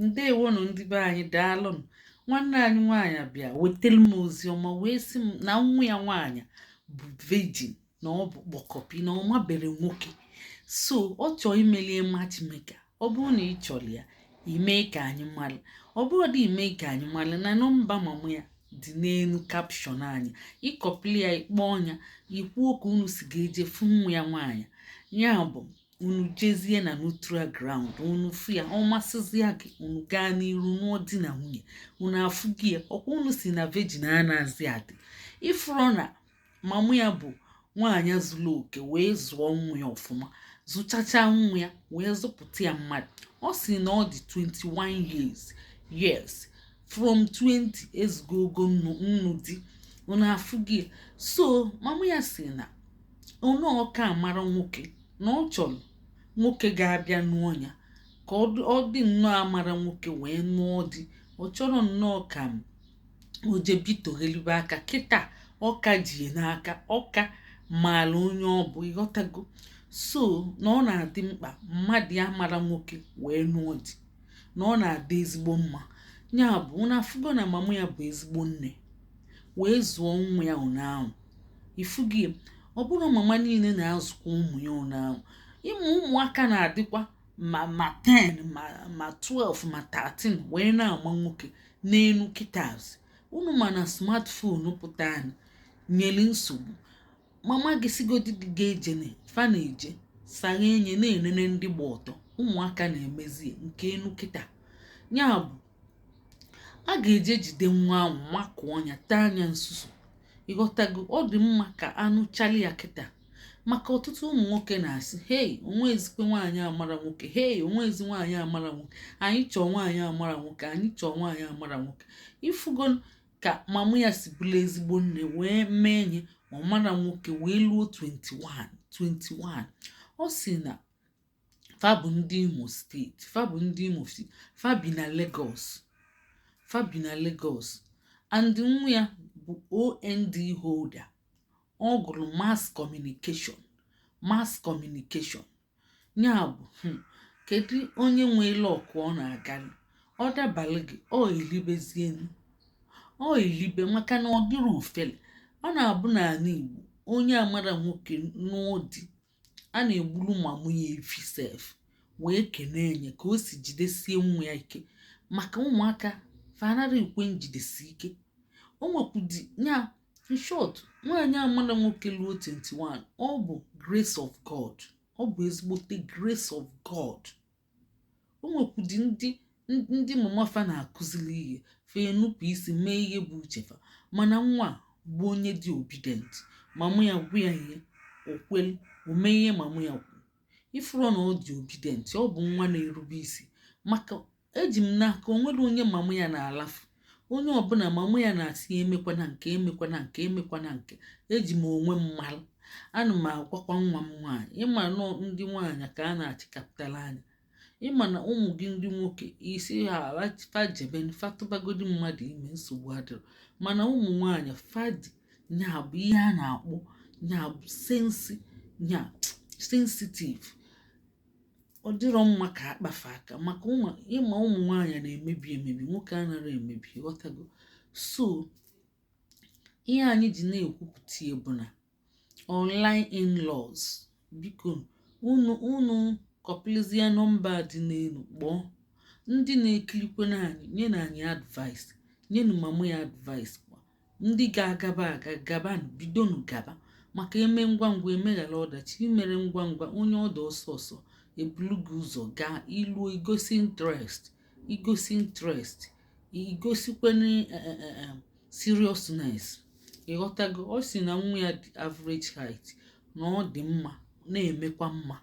ndewonụ ndị be anyị daalụnụ nwanne anyị nwaanyị bịa wetara m ozi ọma wee sị m na nwa ya nwaanyị bụ virgin na ọ bụ kpọkọpi na ọ mabere nwoke so ọ chọọ imelie matchmaker ọ bụrụ na ị chọrọ ya i mee ka anyị mara ọ bụrọdị ime ka anyị mara na nọmba mama ya dị n'elu caption anyị ị kọpili ya ị kpọọ nya i kwuo ka unu si ga-eje fụ nwa ya nwaanyị ya bụ unu jezie na neutral ground unu fụ ya ọ masịzịa gị unu gaa n'iru nụọ di na nwunye unu afụgo ya ọ kwa unu si na virgin anazị adị ị fụrọ na mama ya bụ nwaanyị zuru oke wee zụọ nwa ya ọfụma zụchacha nwa ya wee zụpụta ya mmadụ ọ si na ọ dị 21 years yes from 20 ezugo ogo ịnụ di unu afụgo ya so mama ya si na onye ọ ka amara nwoke na ọ chọrọ nwoke ga-abịa nụọ ya ka ọ dị nnọọ amara nwoke wee nụọ di ọ chọrọ nnọọ ka o jebitoghelibe aka kịta ọ ka ji n'aka ọ ka maara onye ọ bụ ị ghọtago so na ọ na-adị mkpa mmadụ amara nwoke wee nụọ di na ọ na-adị ezigbo mma ya bụ unu afụgo na mama ya bụ ezigbo nne wee zụọ nwa ya ụna ahụ i fugo ọ bụrụ mama niile na-azụkwa ụmụ ya ụna ahụ ị ma ụmụaka na-adịkwa ma 10 ma 12 ma 13 wee na-ama nwoke n'enu kịta as unu ma na smartphone pụta nyere nsogbu mama gị sigodi gị ga ejene fa na-eje saghe anya na-enene ndị gba ọtọ ụmụaka na-emezie nke enu kịta ya bụ a ga-eje jide nwa ahụ makụọ nya taa nya nsusu ị ghọtago ọ dị mma ka a nụchali ya kịta maka ọtụtụ ụmụ nwoke na-asị hei o nwezikwe nwaanyị amara nwoke hei o nwezi nwaanyị amara nwoke anyị chọọ nwaanyị amara nwoke anyị chọọ nwaanyị amara nwoke i fugo ka mama ya si bụrụ ezigbo nne wee mee nya amara nwoke wee luo 21 21 ọ si na fa bụ ndị Imo steeti fa bụ ndị Imo steeti fa bi na Lagos fa bi na Lagos and nwa ya bụ OND holder ọ gụrụ mass communication mass communication ya bụ hmm, kedu onye nwe luck ọ na-agalị ọ dabalị gị o i libezie o i libe maka na ọ dịrọ ofele ọ na-abụ n'ala Igbo onye amara nwoke n'ụdị a na-egburu mama ya efi sef wee kenee nye ka o si jidesie nwa ya ike maka ụmụaka fa anara ekwe njidesi ike o nwekwudi ya in short nwaanyị amana nwoke luo 21 ọ bụ grace of god ọ bụ ezigbote grace of god o nwekwudi ndị mama fa na-akụziri ihe fa enupụ isi mee ihe bụ uche fa mana nwa bụ onye dị obedient mama ya gwa ya ihe o kwelu o mee ihe mama ya kwuru ị fụrụ na ọ dị obedient ọ bụ nwa na-erube isi maka eji m n'aka o nwere onye mamụ ya na-alafu onye ọbụla mamụ ya na-asị ya emekwana nke emekwana nke emekwana nke eji m onwe m mara ana m agwakwa nwa m nwaanyị ị ma na ọ ndị nwaanyị ka a na-achịkapụtara anya ị ma na ụmụ gị ndị nwoke ị sị fa jebe fa tụbagodi mmadụ ime nsogbu adịrọ mana ụmụ nwaanyị fa dị nya bụ ihe a na-akpọ nya bụ sensi nya sensitive ọ dịrọ mma ka a kpa fa aka maka ịma ụmụ nwaanyị na-emebi emebi nwoke anara emebi ghọtago so ihe anyị ji na-ekwupụta ya bụ na online in-laws biko unu unu kọpilizie nọmba dị n'elu kpọọ ndị na-ekirikwenụ anyị nyenụ anyị advice nyenụ mama ya advice ndị ga-agaba aga gaba bidonu gaba maka e mee ngwa ngwa e meghara ọdachi i mere ngwa ngwa onye ọdọ ọsọ ọsọ ebulu gị ụzọ gaa i luo i gosi interest i gosi interest i gosikwenụ eh, eh, eh, seriousness ị ghọtago ọ sị na nwa ya dị average height na ọ dị mma na-emekwa mma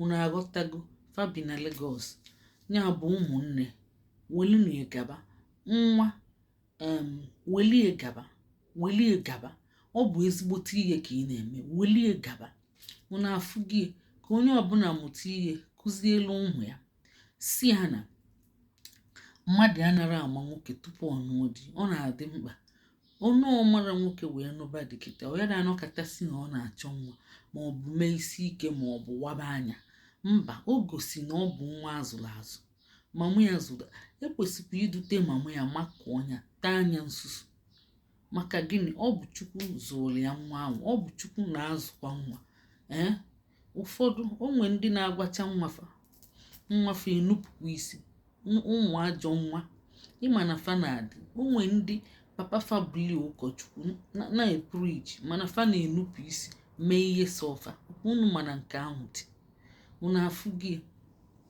unu aghọtago fa bi na Lagos ya bụ ụmụnne welunu gaba nwa welie gaba welie gaba ọ bụ ezigbote ihe ka ị na-eme welie gaba unu afụgo ya ka onye ọbụla mụta ihe kụzielu ụmụ ya sị ha na mmadụ anara ama nwoke tupu ọ nụọ di ọ na-adị mkpa onye amara nwoke wee nụba di kịta ọ ya na-anọkata sị na ọ na-achọ nwa ma ọ bụ mee isi ike ma ọ bụ waba anya mba o gosi na ọ bụ nwa a zụrụ azụ mama ya zụta e kwesịkwa idute mama ya makụọ ya taa nya nsusu maka gịnị ọ bụ chukwu zụrụ ya nwa ahụ ọ bụ chukwu na-azụkwa nwa ee ụfọdụ o nwe ndị na-agwacha nwa fa nwa fa enupụkwa isi ụmụ ajọ nwa ị ma na fa na-adị o nwe ndị papa fa bụli ụkọchukwu na-epreach mana fa na-enupụ isi mee ihe sọ fa unu mana nke ahụ dị unu afụgo ya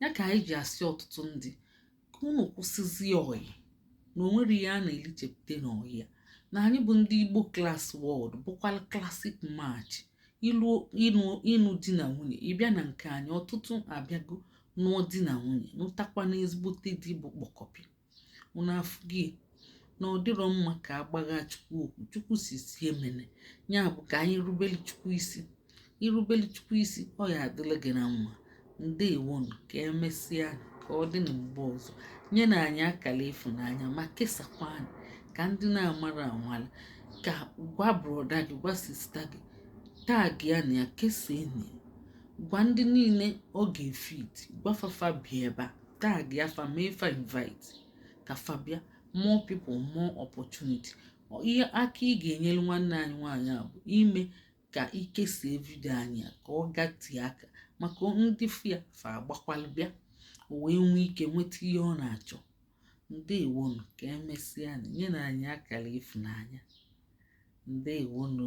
ya ka anyị ji asị ọtụtụ ndị ka unu kwụsịzie ọyị na o nwere ihe a na-elichepụta n'ọyị ya na anyị bụ ndị igbo class world bụkwa classic match ịnụ di na nwunye ị bịa na nke anyị ọtụtụ abịago nụọ di na nwunye nụtakwanụ ezigbote di bụ kpọkọpịa unu afụ gị na ọ dịrọ mma ka a gbagha chukwu okwu chukwu sị sị emene ya bụ ka anyị rubeli chukwu isi i rubeli chukwu isi ọ ya-adịlị gị na mma ndewonu ka emesịa ka ọ dị na mgbe ọzọ nyenụ anyị akala ịfụnanya ma kesakwa anyị ka ndị na-amara amala ka gwa broda gị gwa sista gị tagịanụ ya kesanụ ya gwa ndị niile ọ ga-fit gwa fa fa bịa ebe a tagịa fa mee fa invite ka fa bịa more people more opportunity ihe aka ị ga-enyere nwanne anyị nwaanyị a bụ ime ka i kesie vidio anyị ka ọ gatie aka maka ndị fụ ya fa agbakwalụ bịa o wee nwee ike nweta ihe ọ na-achọ ndewonu ka emesịa nyenụ anyị akala ịfụnanya ndewonu